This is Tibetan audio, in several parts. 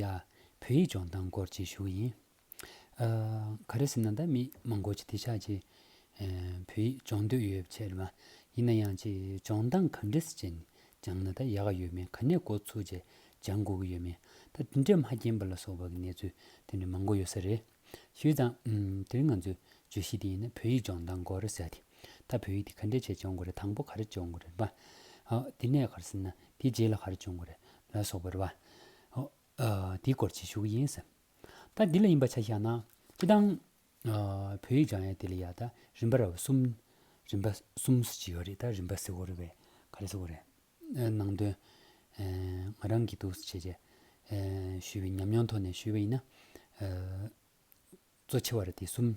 ཡ། བོད་ཡིག་སྦྱོང་སྟངས་སྐོར་གྱི་ཤུགས་ཡིན། ཨ། ག་རེ་ཟེར་ན་ད་མི་མང་པོ་ཅིག་དེ་ཆགས་ཀྱི། བོད་ཡིག་སྦྱོང་འདོད་ཡོད་བྱས་རེད་མ། ཡིན་ན་ཡང་ཅིག་སྦྱོང་སྟངས་ག་འདྲས་ཅན་སྦྱང་ན་ད་ཡག་གི་ཡོད་མེད་ག་ནས་འགོ་ཚུགས་བྱས་སྦྱང་དགོས་ཀྱི་ཡོད་མེད་ད་དེ་འདྲས་མ་རྒྱན་པ་ལ་སོགས་པ་གི་གནས་ཚུལ་དེ་འདྲས་མང་པོ་ཡོད་ས་རེད། ཞུས་ཙང། དེ་རིང་ང་ཚོས་བརྗོད་གཞི་དེ་ཡིན་ན་བོད་ཡིག་སྦྱོང་སྟངས་དགོས་རེད་ཟེར་ཏེ། ད་བོད་ཡིག་དེ་ག་འདྲའི་ཆེད་སྦྱོང་དགོས་རེད་དང་པོ་ག་རེ་སྦྱོང་དགོས་རེད་པ། ཨོ། དེ་ནས་ག་རེ་ཟེར་ན་དེའི་རྗེས་ལ་ག་རེ་སྦྱོང་དགོས་རེད་ལ་སོགས་པ་རེད་པ། ཨོ། དེའི་སྐོར་ཅིག་ཞུ་གི་ཡིན་ཟེར། ད་འདི་ལ་ཡིན་པ་ཆ་བཞག་ན། ཅི་སྟངས། བོད་ཡིག་སྦྱང་ཡ་དེ་ལ་ཡ་ད་རིམ་པ་ར་བ་གསུམ། རིམ་པ་གསུམ་ཟེར་གྱི་ཡོད་རེད་ད་རིམ་པ་ཟེར་དགོས་རེད་བས་ག་རེ་ཟེར་དགོས་རེད། ནང་དོན། ང་རང་གིས་འདུག་བྱས་རྗེས་ཞུས་པའི་ཉམས་མྱོང་ཐོག་ནས་ཞུས་པ་ཡིན་ན། གཙོ་ཆེ་བ་རེ་དེ་གསུམ།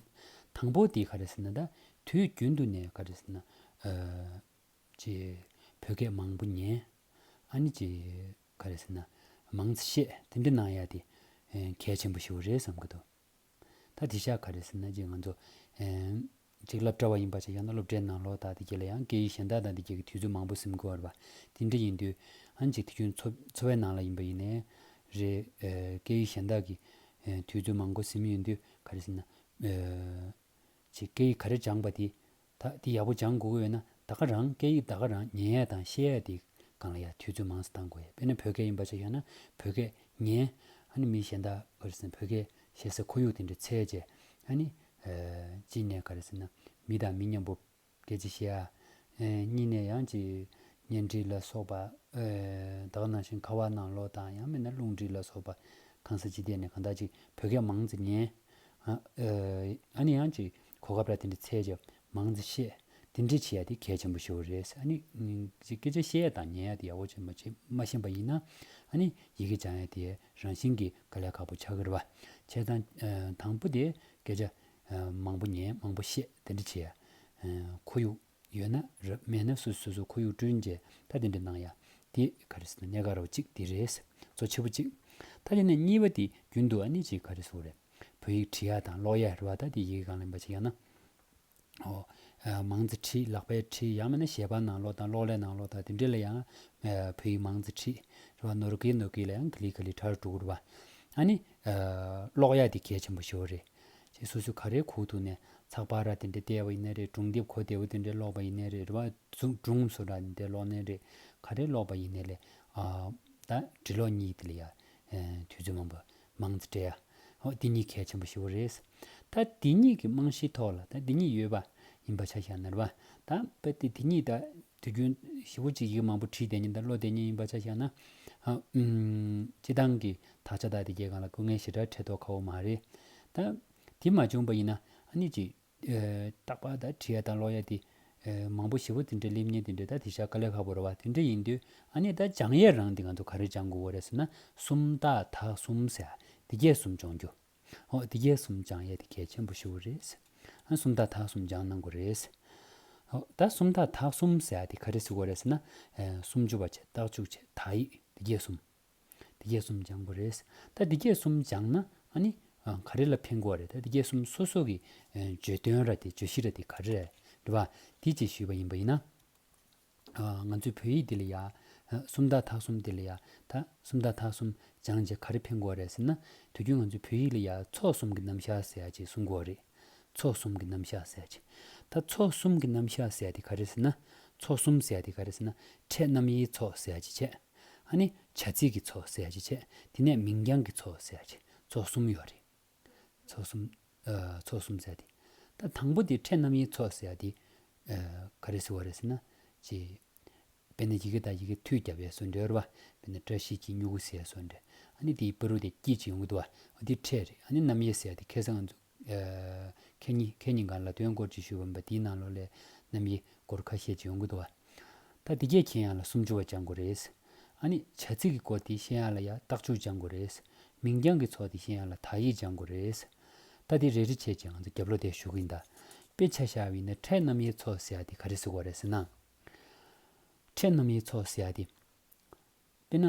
དང་པོ་དེ་ག་རེ་ཟེར་ན་ད་དུས་རྒྱུན་དུ་ནས་ག་རེ་ཟེར་ན། ཅེས་བོད་སྐད་མང་པོ་ཉན། ཨ་ནི་ཅེས་ག་རེ་ཟེར་ན། མང་ཚེ་ཤེས་དེ་འདྲ་གནང་ཡ་དེ། གལ་ཆེན་པོ་ཞིག་རེད་བསམ་གྱི་འདུག། ད་དེ་ཤ་ག་རེད་ཟེར་ན་རྗེས་ང་ཚོ། གཅིག་སླབ་གྲྭ་བ་ཡིན་པ་ཆགས་ཀྱང་ན་སློབ་གྲྭའི་ནང་ལོག་དག་དེ་གྱེས་ལ་ཡང་སྐད་ཡིག་གཞན་དག་དང་དེ་གྱེས་ཀྱི་དུས་ཚོད་མང་པོ་སེམས་ཁུར་བར་བ། དེ་འདྲ་ཡིན་དུས། ཧན་ཅིག་དེ་ཁྱོད་འཚོ་བའི་ནང་ལ་ཡིན་པ་ཡིན་ནའི། རེད། སྐད་ཡིག་གཞན་དག་གི། དུས་ཚོད་མང་པོ་སེམས་ཡོད་དུས་ག་རེ་ཟེར་ན། ཅིག་སྐད་ཡིག་ག་རེ་སྦྱངས་པ་དེ། ད་འདི་ཡག་པོ་སྦྱང་དགོས་ཀྱི་ཡོད་ན་ད་ག་རང་སྐད་ཡིག་ད་ག་རང་ཉན་ཡས་དང་ཤེས་ཡས་དེ་གང་ལ་ཡ་དུས་ཚོད་མང་ས་གཏང་དགོས་ཡ་དཔེར་ན་བོད་སྐད་ཡིན་པ་ཆགས་ཡོད་ན་བོད་སྐད་ཉན་ཨ་ནི་མི་གཞན་དག་ག་རེ་ཟེར་ན་བོད་སྐད་བཤད་སའི་ཁོར་ཡུག་དེ་འདྲ་ཚད་བཅས་ཨ་ནི། གཅིག་ནས་ག་རེ་ཟེར་ན་མི་དང་མི་མཉམ་པོ་སྐད་ཅིག་བཤད་ཨ། གཉིས་ནས་ཡང་ཅིག་བརྙན་འཕྲིན་ལ་སོགས་པ་དག་ནང་བཞིན་ཁ་བ་ནང་ལོག་དང་ཡང་མིན་ན་རླུང་འཕྲིན་ལ་སོགས་པ་གང་ས་ཅི་བལྟས་ནས་གང་དག་ཅིག་བོད་སྐད་མང་ཙི་ཉན་ཨ། ཨ་ནི་ཡང་ཅིག་གོ་སྐབས་ར་དེ་འདྲའི་ཚད་ཀྱི་མང་རྩི་ཤེས། དེ་འདྲའི་བྱེད་ཡ་དེ་གལ་ཆེན་པོ་ཞིག་རེད། ཨ་ནི། སྐད་ཆ་བཤད་ཡ་དང་ཉན་ཡ་དེ་ཡག་པོ་བྱེད་མ་བྱེད་མ་ཤེས་པ་ཡིན་ན། ཨ་ནི། ཡི་གེ་སྦྱང་ཡ་དེ་རང་བཞིན་གྱིས་དཀའ་ལས་ཁག་པོ་ཆགས་ཀྱི་རེད་བ། བྱས་ཙང། དང་པོ་དེ། སྐད་ཆ། མང་པོ་ཉན་མང་པོ་བཤད་དེ་འདྲ་བྱེད་ཡ། ཁོར་ཡུག། ཡོད་ན་རབ་མེད་ན་སུས་སོ་སོ་ཁོར་ཡུག་བསྐྲུན་རྗེས་ད་དེ་འདྲ་གནང་ཡ། དེ་ག་རེ་སོང་གནས་ག་རོག་ཅིག་དེ་རེད། གཙོ་ཆེ་པོ་གཅིག། ད་དེ་ནས་གཉིས་པ་དེ་རྒྱུན་དུ་ཨ་ནི་ཅིག་ག་རེ་སོང་རེད། བོད་ཡིག་བྲི་ཡ་དང་ཀློག་ཡ་རེད་བ་ད་དེ་ཡི་གེ་གང་ལེན་པ་ཅིག་ཡང་ན། ཨོ། མང་ཙེ་བྲིས་ལག་པས་བྲིས་ཡང་མེད་ན་ཞལ་པར་ནང་ཀློག་དང་གློག་ཀླད་ནང་ཀློག་དང་དེ་འདྲས་ལ་ཡང། བོད་ཡིག་མང་ཙེ་བྲིས་རེད་བ་ནོར་གི་ནོར་གི་ལ་ཡང་ག་ལི་ག་ལི་ཁྲར་འགྲོ་གི་རེད་བ། ཨ་ནི། ཀློག་ཡ་དེ་གལ་ཆེན་པོ་ཞིག་རེད། ཞེས་སོ་སོའི་ག་རེའི་ཁུག་ཐུག་ནས་ཚགས་པར་ར་དེ་འདྲའི་བལྟས་བ་ཡིན་ནའི་རེད་སྒྲུང་དེབ་གོ་བདེ་བོ་དེ་འདྲའི་ཀློག་པ་ཡིན་ནའི་རེད་རེ་བ་སྒྲུང་སོ་ར་དེ་འདྲའི་ཀློག་ནའི་རེད་ག་རེ་ཀློག་པ་ཡིན་ནའི་ལས་ད་འབྲི་ཀློག་གཉིས་དེ་ལ་ཡ། དུས་ཚོད་མང་པོ་མང་ཚེ་བྲེལ་ཡ། ཨོ་དེ་གཉིས་གལ་ཆེན་པོ་ཞི་བོ་རེད། ད་དེ་གཉིས་ཀྱི་རྨང་གཞིའི་ཐོག་ལ་ད་དེ་གཉིས་ཡོད་པ་ཡིན་པ་ཆ་ཤས་ན་རེ་བ་ད་དཔེ་དེ་དེ་གཉིས་ད་དུས་རྒྱུན་བཞི་བོ་གཅིག་གིས་མང་པོ་བྲིས་བསྡད་ཉིན་ད་བློ་བདེ་ཉིན་ཡིན་པ་ཆ་བཞག་ན། སྤྱི་བཏང་གི་དག་ཆ་དག་དེ་རྒྱལ་ཁང་ལ་སྐུ་ངལ་ཞེ་དྲག་འཕྲད་དོགས་ཁག་བོ་མ་རེད། ད། དེ་མ་བྱུང་པ་ཡིན་ན་ཨ་ནི་ཅིག། རྟག་པར་ད་བྲིས་ཡ་དང་ཀློག་ཡ་དེ། མང་པོ་བཞི་བོ་དེ་འདྲ་སླེབས་ཉིན་དེ་འདྲ་ད་དེ་བཞག་དཀའ་ལས་ཁག་བོ་རེད་བ་དེ་འདྲ་ཡིན་དུས་ཨ་ནི་ད་སྦྱང་ཡས་རང་དེ་ང་ཚོ་ག་རེ་སྦྱང་དགོས་བོ་རེད་ཟེར་ན་སུམ་རྟགས་དག་གསུམ་ཟེར་ཡ་དེ་རྒྱས་གསུམ་སྦྱོང་རྒྱུ། ཨོ་དེ་རྒྱལ་གསུམ་སྦྱང་ཡས་དེ་གལ་ཆེན་པོ་ཞུ་བོ་རེད། ཨ་སུམ་རྟགས་དག་གསུམ་སྦྱང་གནང་དགོས་རེད། ཨོ་ད་སུམ་རྟགས་དག་གསུམ་ཟེར་དེ་ག་རེ་ཟེར་དགོས་རེད་ཟེར་ན། སུམ་ཅུ་བ་ཆད་རྟགས་བཅུ་ཆད་དག་ཡིག་དེ་རྒྱལ་གསུམ། དེ་རྒྱལ་གསུམ་སྦྱང་དགོས་རེད། ད་དེ་རྒྱལ་གསུམ་སྦྱང་ན་ཨ་ནི། ག་རེ་ལ་ཕན་དགོས་རེད་ད་དེ་རྒྱལ་གསུམ་སོ་སོ་གི་བརྗོད་དོན་ར་དེ་བརྗོད་གཞི་ར་དེ་ག་རེ་རེད། དེ་བ་དེ་བཅས་ཞུས་པ་ཡིན་པ་ཡིན་ན། ང་ཚོའི་བོད་ཡིག་འདི་ལ་ཡ། སུམ་རྟགས་དག་གསུམ་འདི་ལ་ཡ། ད། སུམ་རྟགས་དག་གསུམ། སྦྱངས་རྗེས་ག་རེ་འཕེན་དགོས་རེད་ཟེར་ན། དུས་རྒྱུན་ང་ཚོའི་བོད་ཡིག་ལ་ཡ། ཚོགས་གསུམ་གྱི་རྣམ་བཞག་ཟེར་ཅེས་གསུང་དགོས་རེད། ཚོགས་གསུམ་གྱི་རྣམ་བཞག་ཟེར་ཅེས། ད། ཚོགས་གསུམ་གྱི་རྣམ་བཞག་ཟེར་དེ་ག་རེ་ཟེར་ན། ཚོགས་གསུམ་ཟེར་དེ་ག་རེ་ཟེར་ན། ཕྲད་རྣམ་དབྱེའི་ཚོགས་ཟེར་ཅེས་བྱས། ཨ་ནི། བྱ་ཚིག་གི་ཚོགས་ཟེར་ཅེས་བྱས། དེ་ནས་མིང་རྐྱང་གི་ཚོགས་ཟེར་ཅེས། ཚོགས་གསུམ་ཡོད་རེད། ཚོགས་གསུམ། ཚོགས་གསུམ་བཙལ་ཏེ། ད་དང་པོ་དེ་ཕྲད་རྣམ་དབྱེའི་ཚོགས་ཟེར་དེ། ག་རེ་ཟེར་བ་རེད་ཟེར་ན། ཅེས། དཔེར་ན་ཡི་གེ་དང་ཡི་གེ་མཐུད་བརྒྱབ་པའི་སོ་འདྲེར་བ། དཔེར་ན་བཀྲ་ཤིས་ཀྱི་སྨྱུ་གུ་ཟེར་སོ་འདྲེ། ཨ་ནི་དེའི་དཔེ་རུ་དེ་སྐྱིད་ཅིག་ཡོང་གི་འདུག་བ། འདི་ཕྲད་རེད། ཨ་ནི་རྣམ་དབྱེ་ཟེར་དེ་ཁེ་བཟང་འཛུགས། ཁེ་གཉིས་གང་ལ་དོན་སྐོར་ཅིག་ཞུས་པ་འབའ་དེའི་ནང་ལོགས་ལས། རྣམ་དབྱེ། སྐོར་ཁ་ཤས་ཅིག་ཡོང་གི་འདུག་བ། ད་འདི་སྐད་ཁྱེད་ཡང་ལ་སུམ་ཅུ་བ་སྦྱང་དགོས་རེད། ཨ་ནི། བྱ་ཚིག་གི་སྐོར་དེ་ཤེས་ཡང་ལ་ཡ་སྟག་ཅུ་སྦྱང་དགོས་རེད། མིང་རྐྱང་གི་ཚོགས་དེ་ཤེས་ཡང་ལ་དག་ཡིག་སྦྱང་དགོས་རེད། ད་དེ་རེ་རེ་བྱས་རྗེས་ང་ཚོ་རྒྱབ་ལོག་བསྡད་ཞུ་གི་ཡིན། དཔེ་ཆ་བཞག་བའི་ནི་ཕྲད་རྣམ་དབྱེའི་ཚོགས་ཟེར་ཡ་དེ་ག་རེ་གཟིགས་བ་རེད་ཟེར་ན། ཕྲད་རྣམ་དབྱེའི་ཚོགས་ཟེར་ཡ་དེ། དཔེར་ན།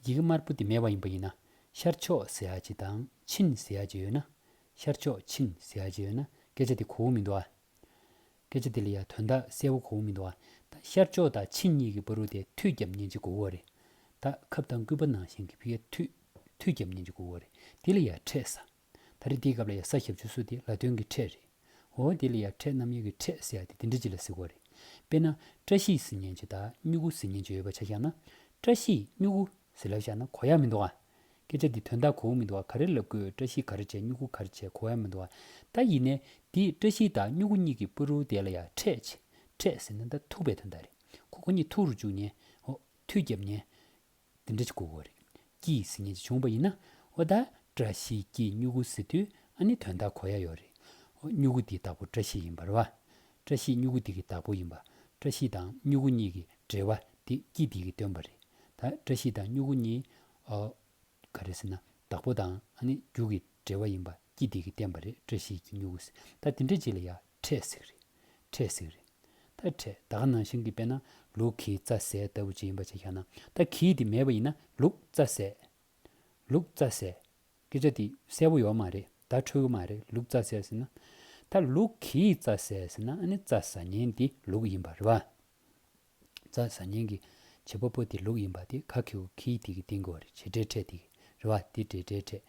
ཡི་གེ་དམར་པོ་དེ་མེད་པ་ཡིན་པ་ཡིན་ན། ཤར་ཕྱོགས་ཟེར་ཡ་ཅིག་དང་ཕྱིན་ཟེར་ཡ་ཅིག་ཡོད་ན། ཤར་ཕྱོགས་ཕྱིན་ཟེར་ཡ་ཅིག་ཡོད་ན་སྐད་ཆ་དེ་གོ་བོ་མི་འདུག་ཨ། སྐད་ཆ་དེ་ལ་ཡང་དོན་དག་གསལ་བོ་གོ་བོ་མི་འདུག་ཨ། ད་ཤར་ཕྱོགས་དང་ཕྱི་གཉིས་ཀྱི་པར་རུ་དེ་མཐུད་རྒྱབ་གཉན་གྱི་གོ་བོ་རེད། ད་ཁབ་དང་སྐུད་པ་ནང་བཞིན་གྱི་ཕིག་ཡ་མཐུད་རྒྱབ་གཉན་གྱི་གོ་བོ་རེད་དེ་ལ་ཡང་ཕྲད་ས། ད་རེ་འདིའི་སྐབས་ལ་ཡང་ས་ཞབས་ཆུ་སོ་དེ་ལ་དོན་གྱི་ཕྲད་རེད། འོ་དེ་ལ་ཡང་ཕྲད་རྣམ་གཡེང་གི་ཕྲད་ཟེར་ཡ་དེ་དེ་འདྲ་ཅིག་ལ་གཟིགས་བ་རེད། དཔེར་ན་བཀྲ་ཤིས་ཟེར་གཉན་གྱི་དང་སྨྱུ་གུ་ཟེར་གཉན་གྱི་ཡོད་པ་ཆ་བཞག་ན། བཀྲ་ཤིས་སྨྱུ་གུ་ཟེར་ལབ་བཞག་ན་གོ་ཡག་མི་འདུག་ཨ། སྐད་ཆ་འདི་དོན་དག་གོ་བོ་མི་འདུག་ག་རེ་ལབ་དགོས་བཀྲ་ཤིས་ག་རེ་བྱས་སྨྱུ་གུ་ག་རེ་བྱས་གོ་བའི་མི་འདུག་ད་ཡིན་ནའི་འདིས་བཀྲ་ཤིས་དང་སྨྱུ་གུ་གཉིས་ཀྱི་པུ་རུའུ་དེ་ལ་ཡ་ཁྲས་ཆེ་ཁྲས་ཟེར་ན་ད་ཐུག་པའི་དོན་དག་རེད་ཁོ་ཁོ་གཉིས་ཐུག་རུ་བཅུག་ཉན་འོ་ཐུག་རྒྱབ་ཉན་འདི་འདྲ་ཅིག་གོ་གོ་རེད་ཀྱི་ཟེར་ཉན་ཅིག་བྱུང་བ་ཡིན་ན་འོ་ད་བཀྲ་ཤིས་ཀྱིས་སྨྱུ་གུ་ཟེར་དུས་ཨ་ནི་དོན་དག་གོ་ཡ་ཡོད་རེད་འོ་སྨྱུ་གུ་འདི་དག་པོ་བཀྲ་ཤིས་ཡིན་པར་བ་བཀྲ་ཤིས་སྨྱུ་གུ་འདི་གི་བདག་པོ་ཡིན་པ། བཀྲ་ཤིས་དང་སྨྱུ་གུ་གཉིས་ཀྱི་འབྲེལ་བ་འདི་སྐྱིད་སྡིག་གི་སྟོན་པ་རེད། ད་བཀྲ་ཤིས་དང་སྨྱུ་གུ་གཉིས། ག་རེད་ཟེར་ན་བདག་པོ་དང་རྒྱུ་གི་འབྲེལ་བ་ཡིན་པ་སྐྱིད་སྡིག་གི་སྟོན་པ་རེད་བཀྲ་ཤིས་ཀྱི་སྨྱུ་གུ་ཟེར་ད་དེ་འདྲ་གྱིས་ལ་ཡག་འཕྲད་ཟིག་རེད། འཕྲད་ཟིག་རེད། ད་འཕྲད་ད་ག་ནང་བཞིན་གྱི་དཔེ་ན་ལུག་གི་རྩ་ཟས་ལྟ་བུ་ཅིག་ཡིན་པ་ཅིག་བཞག་ན་ད་གིས་དེ་མེད་པ་ཡིན་ན་ལུག་རྩ་ཟས། ལུག་རྩ་ཟས། སྐད་ཆ་འདི་གསལ་པོ་ཡོག་མ་རེད་ད་འཁྲུལ་གི་མ་རེད་ལུག་རྩ་ཟེར་ཟེར་ན། ད་ལུག་གིས་རྩ་ཟེར་ཟེར་ན་ཨ་ནི་རྩ་ཟ་ཉེན་འདི་ལུག་ཡིན་པ་རེད་བ། རྩ་ཟ་ཉེན་གི་བྱེད་པ་པོ་དེ་ལུག་ཡིན་པ་དེ་ག་གི་ཧུ་གིས་དེ་གི་སྟེང་གི་བ་རེད་བྱེད་འབྲེལ་འཕྲད་དེ་གི་རེད་བ་དེ་འབྲེལ་འབྲེལ་འཕྲད།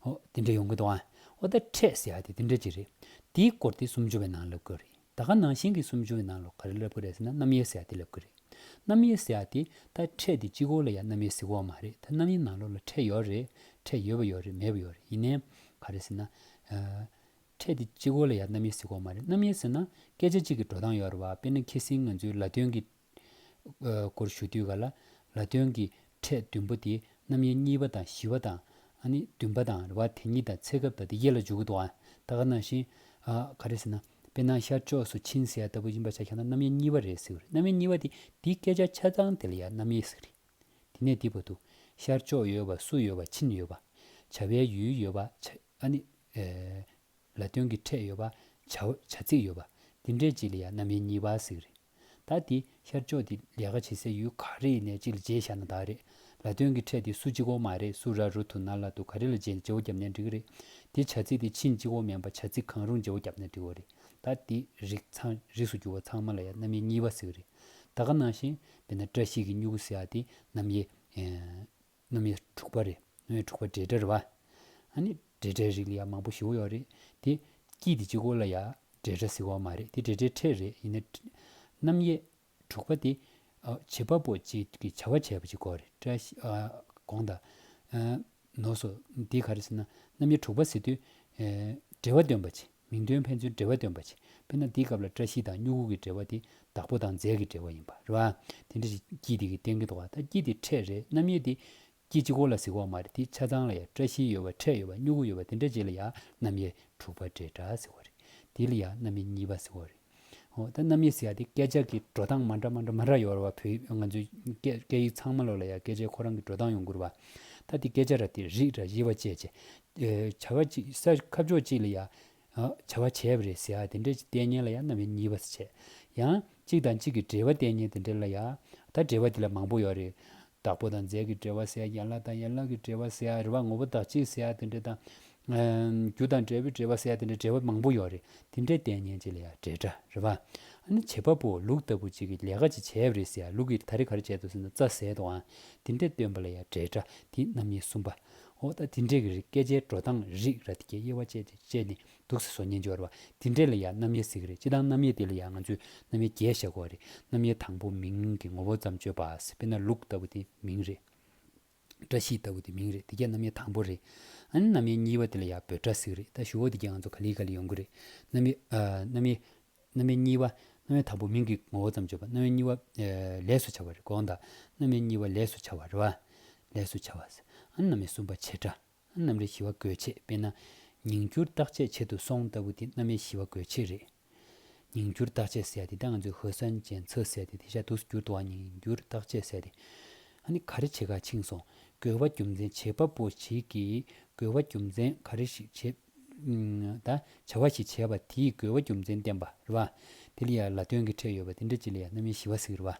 ཨོ་དེ་འདྲ་ཡོང་གི་འདུག་ཨ་ཨོ་ད་འཕྲད་ཟེར་ཡག་དེ་དེ་འདྲ་གྱི་རེད་དེའི་སྐོར་དེ་སུམ་ཅུ་བའི་ནང་ལབ་དགོས་རེད། ད་ག་ནང་བཞིན་གྱི་སུམ་ཅུ་ཡི་ནང་ལོ་ག་རེ་བསླབ་ཀྱི་རེད་ཟེར་ན་རྣམ་དབྱེ་ཟེར་ཡག་དེ་བསླབ་ཀྱི་རེད། རྣམ་དབྱེ་ཟེར་ཡག་དེ་ད་ཕྲད་དེ་སྤྱི་གོ་ལ་ཡང་རྣམ་དབྱེ་ཟེར་གོ་བ་མ་རེད་ད་རྣམ་དབྱེ་ནང་ལོ་ལ་ཕྲད་ཡོད་རེད་ཕྲད་ཡོད་པ་ཡོད་རེད་མེད་པ་ཡོད་རེད་ཡིན་ནའི་ག་རེ་ཟེར་ན། ཕྲད་དེ་སྤྱི་གོ་ལ་ཡང་རྣམ་དབྱེ་ཟེར་གོ་བ་མ་རེད་རྣམ་དབྱེ་ཟེར་ན་སྐད་ཆ་གཅིག་གི་འགྲོ་སྟངས་ཡོད་རེད་བ་དཔེར་ན་ཁྱི་སེང་ང་ཚོའི་ལ་སྟོན་གྱི་སྐོར་ཞུ་དུས་ག་ལ་ལ་སྟོན་གྱི་ཕྲད་བདུན་པོ་དེ་རྣམ་དབྱེ་གཉིས་པ་དང་བཞི་བ་དང། བདུན་པ་དང་རེ་བ་དེ་གཉིས་དང་ཚེ་སྐབས་དང་དེ་ཡེ་ལ་འཇུག་གི་དོག་ད་ག་ནང་ཞིང། ག་རེ་ཟེར་ན་དཔེར་ན་ཤར་ཕྱོགས་སུ་ཕྱིན་ཟེར་ལྟ་བུ་ཡིན་པར་བྱ་ཁྱོད་ན་རྣམ་དབྱེ་གཉིས་པ་རེད་ཟེར་བ་རེད་རྣམ་དབྱེ་གཉིས་པ་དེ་དེ་སྐད་ཆ་ཆ་ཚང་དེ་ལ་ཡང་རྣམ་དབྱེ་ཟེར་གི་རེད། དེ་ནས་འདི་བ་འདུག་ཤར་ཕྱོགས་ཡོད་པ་སུ་ཡོད་པ་ཕྱིན་ཡོད་པ། བྱ་བའི་ཡུལ་ཡོད་པ་བྱ། ལ་སྟོན་གྱི་ཕྲད་ཡོད་པ་བྱ། བྱ་ཚིག་ཡོད་པ། འདི་འདྲའི་རྗེས་ལ་ཡང་རྣམ་དབྱེ་གཉིས་པ་ཟེར་གི་རེད། ད་དེ་ཤར་ཕྱོགས་དེ་ལས་ཀ་བྱེད་སའི་ཡུལ་ག་རེ་ཡིན་ནས་ཅིག་ལ་མཇལ་བཞག་ན་དག་རེད་ལ་དོན་གི་ཕྲད་དེ་སུ་གཅིག་འོ་མ་རེད་སུ་ར་རུ་དུ་ན་ལ་དུ་ག་རེ་ལ་མཇལ་མཇལ་བོ་བརྒྱབ་ནས་འགྲིག་རེད་དེ་བྱ་ཚིག་དེ་ཕྱིན་གཅིག་འོ་མའི་བ་བྱ་ཚིག་གང་རུང་མཇལ་བོ་བརྒྱབ་ནས་འགྲིག་བོ་རེད་ད་དེ་རིགས་ཚང་རིགས་སུ་གྱུར་བ་ཚང་མ་ལ་ཡ་རྣམ་དབྱེ་གཉིས་བ་ཟེར་གི་རེད་ད་ག་ནང་བཞིན་དཔེར་ན་བཀྲ་ཤིས་ཀྱི་སྨྱུ་གུ་ཟེར་བ་དེ་རྣམ་དབྱེ་རྣམ་དབྱེ་དྲུག་པ་རེ་ངོས་དྲུག་པ་སྦྲེལ་སྦྲེལ་བ། ཨ་ནི་སྦྲེལ་སྦྲེལ་རིགས་ཡང་མང་པོ་ཞིག་ཡོད་རེད་དེ། སྐྱིད་དེ་གཅིག་གོ་ལ་ཡ་སྦྲེལ་སྦྲེལ་ཟེར་བ་མ་རེད་དེ་སྦྲེལ་སྦྲེལ་ཕྲད་རེད་ཡིན་ན། རྣམ་དབྱེ་དྲུག་པ་དེ། བྱེད་པ་པོ་གཅིག་གི་བྱ་བ་བྱས་པ་གཅིག་གོ་རེད་བཀྲ་ཤིས། དགོངས་དག། ནོ། སོ། འདི་ག་རེ་ཟེར་ན་རྣམ་དབྱེ་དྲུག་པ་ཟེར་དུས། སྦྲེལ་བ་སྟོན་པ་གཅིག། མིང་དོན་ཕན་ཚུན་འབྲེལ་བ་སྟོན་པ་བྱེད། དཔེར་ན་འདིའི་སྐབས་ལ་བཀྲ་ཤིས་དང་སྨྱུ་གུ་གི་འབྲེལ་བ་དེ་བདག་པོ་དང་རྫས་ཀྱི་འབྲེལ་བ་ཡིན་པ་རེད། དེ་འདྲ་ཞིག་སྐྱིད་དེ་གི་སྟེང་གི་དོ་ག་ད་སྐྱིད་དེ་ཕྲད་རེད་རྣམ་དབྱེ་དེ། སྐྱིད་སྤྱི་གོ་ལ་གཟིགས་བ་མ་རེད་དེ་ཆ་ཚང་ལ་ཡང་བཀྲ་ཤིས་ཡོད་བ་ཕྲད་ཡོད་བ་སྨྱུ་གུ་ཡོད་བ་དེ་འདྲ་བྱས་ལ་ཡང་རྣམ་དབྱེ་དྲུག་པ་འབྲེལ་སྒྲ་ཟེར་བ་རེད། དེ་ལ་ཡང་རྣམ་དབྱེ་གཉིས་པ་ཟེར་བ་རེད། ཨོ་ད་རྣམ་དབྱེ་ཟེར་ཡ་དེ་སྐད་ཆ་གི་འགྲོ་སྟངས་མ་འདྲ་མ་འདྲ་མ་འདྲ་ཡོད་རེད་བ་བོད་ང་ཚོའི་སྐད་ཡིག་ཚང་མ་ལོག་ལ་ཡ་སྐད་ཆའི་ཁོ་རང་གི་འགྲོ་སྟངས་ཡོང་ཁུར་བ། ད་དེ་སྐད་ཆ་ར་དེ་རིགས་ར་ཡི་བ་བཅས་བྱས། བྱ་བ་ཅིག་ས་ཁབ་ཕྱོགས་གཅིག་ལ་ཡ། བྱ་བ་བྱས་བ་རེད་ཟེར་ཡ་དེ་འདྲའི་ཅིག་ལྟས་ངན་ལ་ཡ་རྣམ་དབྱེ་གཉིས་བ་བྱས། ཡང། གཅིག་དང་གཅིག་གི་འབྲེལ་བ་ལྟས་ངན་དེ་འདྲ་ལ་ཡ། ད་འབྲེལ་བ་དེ་ལ་མང་པོ་ཡོད་རེད། བདག་པོ་དང་རྫས་ཀྱི་འབྲེལ་བ་ཟེར་ཡ་ཡན་ལག་དང་ཡན་ལག་གི་འབྲེལ་བ་ཟེར་ཡ་རེད་བ་ངོ་བོ་བདག་གཅིག་ཟེར་ཡ་དེ་འདྲ་དང། རྒྱུ་དང་འབྲས་བུའི་འབྲེལ་བ་བསལ་དེ་འདྲའི་འབྲེལ་བ་མང་པོ་ཡོད་རེད་དེ་འདྲའི་ལྟས་ངན་ཅིག་ལ་ཡང་འབྲེལ་སྒྲ་རེད་བ། ཨ་ནི་བྱེད་པ་པོ་ལུག་ལྟ་བུ་ཅིག་གིས་ལས་ཀ་ཅིག་བྱས་པ་རེད་ཟེར་ཡང་ལུག་གིས་ད་རེ་ག་རེ་བྱས་འདུག་ཟེར་ན་རྩ་ཟད་འདུག་ཨང་དེ་འདྲས་སྟོན་པ་ལ་ཡང་འབྲེལ་སྒྲ་དེ་རྣམ་གཉིས་གསུམ་པ། འོ་ད་དེ་འདྲས་ཀྱི་རིགས་སྐད་ཆའི་འགྲོ་སྟངས་རིགས་ར་དེ་གའི་དབྱེ་བ་བཅས་ཏེ་བཅས་ནས་འདུག་ཟེར་སོ་སྙན་འཇོར་བ་དེ་འདྲས་ལ་ཡང་རྣམ་དབྱེ་ཟེར་གྱི་རེད་སྤྱི་དང་རྣམ་དབྱེ་དེ་ལ་ཡང་ང་ཚོས་རྣམ་དབྱེ་བརྒྱད་བཤད་དགོས་བ་རེད་རྣམ་དབྱེ་དང་པོ་མིང་གི་ངོ་བོ་ཙམ་བརྗོད་པ། དཔེར་ན་ལུག་ལྟ་བུ་དེ་མིང་རེད། བཀྲ་ཤིས་ལྟ་བུ་དེ་མིང་རེད་དེ་རྒྱ་ནམ་ཡ་དང་པོ་རེད་ཨཱ་ནམ་ཡ་གཉིས་པ་དེ་ལ་ཡ་བོད་སྒྲ་ཟིག་རེད་ད་ཞུ་བོ་དེ་རྒྱ་ང་ཚོ་ག་ལི་ག་ལི་ཡོང་གི་རེད་ནམ་ཡ་ནམ་ཡ་ནམ་ཡ་གཉིས་པ་ནམ་ཡ་དང་པོ་མིང་གི་ངོ་བོ་ཙམ་བརྗོད་པ་ནམ་ཡ་གཉིས་བ་ལས་སུ་བྱ་བ་རེད་དགོངས་དག་ནམ་ཡ་གཉིས་བ་ལས་སུ་བྱ་བ་རེད་བ་ལས་སུ་བྱ་བ་ཟེར་ཨཱ་ནམ་ཡ་གསུམ་པ་བྱེད་སྒྲ་གནམ་རི་ཞི་བ་དགོས་ཆེད་དཔེར་ན། ཉིང་སྐྱུར་བརྟག་དཔྱད་བྱེད་དུ་སོང་ལྟ་བུ་དེ་གནམ་མེ་ཞི་བ་དགོས་ཆེད་རེད། ཉིང་སྐྱུར་བརྟག་དཔྱད་ཟེར་ཏེ་ད་ང་ཚོས་ཧོས་སན་ཅན་མཚོ་ཟེར་ཏེ་དེ་ཤ་དུག་སུ་བསྐྱུར་འདུག་ཨ་ཉིང་སྐྱུར་བརྟག་དཔྱད་ཟེར་ཏེ། ཨ་ནི་ག་རེ་བྱེད་ག་ཆིངས་སོང། རྒོལ་བ་རྒྱུ་མཚན་བྱེད་པ་པོ་ཞིག་གིས་རྒོལ་བ་རྒྱུ་མཚན་ག་རེ་ཞིག་བྱེད། ད་བྱ་བ་ཞིག་བྱས་པ་དེས་རྒོལ་བ་རྒྱུ་མཚན་བསྟན་པ་རེད་བ། དེ་ལ་ཡ་ལ་དོན་གྱི་ཕྲད་ཡོད་པ་དེ་འདྲ་ཅིག་ལ་ཡ་གནམ་མེ་ཞི་བ་ཟིག་རེད་བ།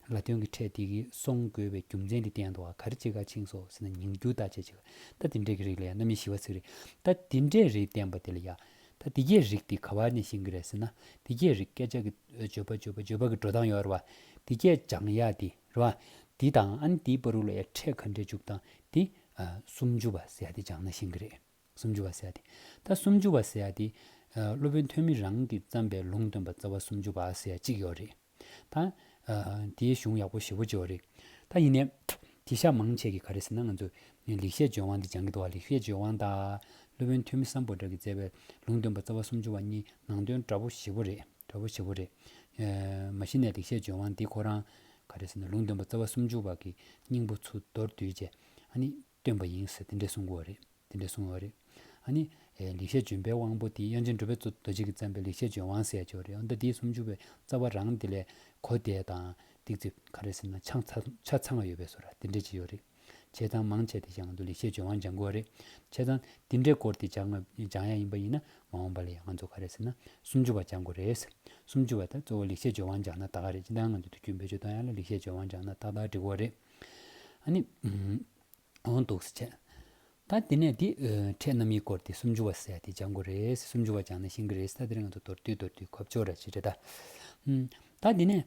ལ་དོན་གྱི་ཕྲད་དེ་གིས་སོང་དགོས་པའི་རྒྱུ་མཚན་དེ་བསྟན་འདུག་ག་རེ་ཅི་ག་ཆིངས་སོགས་ཟེར་ན་ཉིང་རྒྱུ་བརྡ་ཆད་ཅིག་ལ་ད་འདི་འདྲའི་གི་རིགས་ལ་ཡང་རྣམ་དབྱེ་ཞི་བ་ཚིག་རེད་ད་འདི་འདྲའི་རིགས་བསྟན་པ་དེ་ལ་ཡང་ད་འདི་སྐད་རིགས་དེ་ག་བ་ནས་བཞེངས་གི་རེད་ཟེར་ན་འདི་སྐད་རིགས་སྐད་ཆ་གི་བརྗོད་པ་བརྗོད་པ་བརྗོད་པ་གི་འགྲོ་སྟངས་ཡོད་རེད་བ་འདི་སྐད་སྦྱང་ཡག་འདི་རེད་བ་འདི་དང་ཨ་ནི་འདིའི་པར་རུ་ལ་ཡ་ཕྲད་ག་འདྲའི་འཇུག་སྟངས་འདི་སུམ་ཅུ་བ་ཟེར་ཡག་འདི་སྦྱང་ན་བཞེངས་གི་རེད། སུམ་ཅུ་བ་སེ་ཡ་སྟེ། ད་སུམ་ཅུ་བ་སེ་ཡ་དེ། སློབ་དཔོན་ཐོན་མི་རང་གིས་བརྩམས་པའི་ལུང་སྟོན་པ་རྩ་བ་སུམ་ཅུ་བ་སེ་ཡ་གཅིག་ཡོད་རེད། ད། དེའི་གཞུང་ཡག་པོ་ཞེ་བོ་ཅི་ཡོད་རེད། ད་ཡིན་ནའི། དེ་ཤ་མང་ཆད་ཀྱི་ག་རེ་ཟེར་ན་ང་ཚོས། ལེགས་བཤད་ལྗོན་དབང་འདི་སྦྱང་གི་འདུག་ཨ་ལེགས་བཤད་ལྗོན་དབང་དང། སློབ་དཔོན་ཐོན་མི་བསམ་པོ་དག་གིས་བསྩལ་བའི་ལུང་སྟོན་པ་རྩ་བ་སུམ་ཅུ་བ་གཉིས་ནང་དོན་འདྲ་བོ་ཞེ་བོ་རེད། འདྲ་བོ་ཞེ་བོ་རེད། མ་གཞི་ནས་ལེགས་བཤད་ལྗོན་དབང་འདི་ཁོ་རང། ག་རེ་ཟེར་ན་ལུང་སྟོན་པ་རྩ་བ་སུམ་ཅུ་བ་གི་སྙིང་པོ་ཚུར་མདོར་བསྡུས་རྗེས། ཨ་ནི། སྟོན་པ་ཡིན་ཟེར་དེ་འདྲས་གསུང་གོ་རེད་དེ་འདྲས་གསུང་ཡོད་རེད་ཨ་ནི། ལེགས་བཤད་ལྗོན་པའི་དབང་པོ་དེ་དབྱངས་ཅན་གྲུབ་པས་རྡོ་རྗེ་གིས་བརྩམས་པའི་ལེགས་བཤད་ལྗོན་དབང་ཟེར་ཡ་ཆོག་རེད་འོ་ད་དེའི་སུམ་ཅུ་པའི་རྩ་བ་རང་དེ་ལས་གོ་བདེ་དང་ཏིག་ཙིག་ག་རེ་ཟེར་ན་ཆང་ཆ་ཚང་བ་ཡོད་པས་སོ་ར་དེ་འདྲས་ཅིག་ཡོད་རེད་བྱས་ཙང་མང་བྱས་ཏེ་སྦྱང་ང་དུ་ལེགས་བཤད་ལྗོན་དབང་སྦྱང་གོ་རེད་བྱས་ཙང་དེ་འདྲས་བསྐོར་ཏེ་སྦྱང་སྦྱང་ཡ་ཡིན་པ་ཡིན་ན་མ་འོངས་པ་ལ་ཡང་ང་ཚོ་ག་རེ་ཟེར་ན་སུམ་ཅུ་བ་སྦྱང་གོ་རེད་སུམ་ཅུ་བ་དེ་གཙོ་བོ་ལེགས་བཤད་ལྗོན་དབང་སྦྱང་ན་ཏག་ཏག་རེད་སྤྱི་འདང་ང་ཚོ་དུས་རྒྱུན་བེད་སྤྱོད་གཏོང་ཡ་ལ་ལེགས་བཤད་ལྗོན་དབང་སྦྱང་ན་ཏག་ཏག་འགྲིག་གོ་རེད། འོང་འདུག་ཟེར། ད་དེ་ནས་དེ་འཕྲད་རྣམ་དབྱེ་སྐོར་དེ་སུམ་ཅུ་བ་བསལ་ཏེ་སྦྱང་དགོས་རེད། སུམ་ཅུ་བ་སྦྱངས་ན་ཤེས་ཀྱི་རེད་ད་དེ་རིང་ང་ཚོ་མདོར་བསྡུས་མདོར་བསྡུས་གོ་བཅོ་ར་བྱེད་འདྲ་ད། ད་དེ་ནས།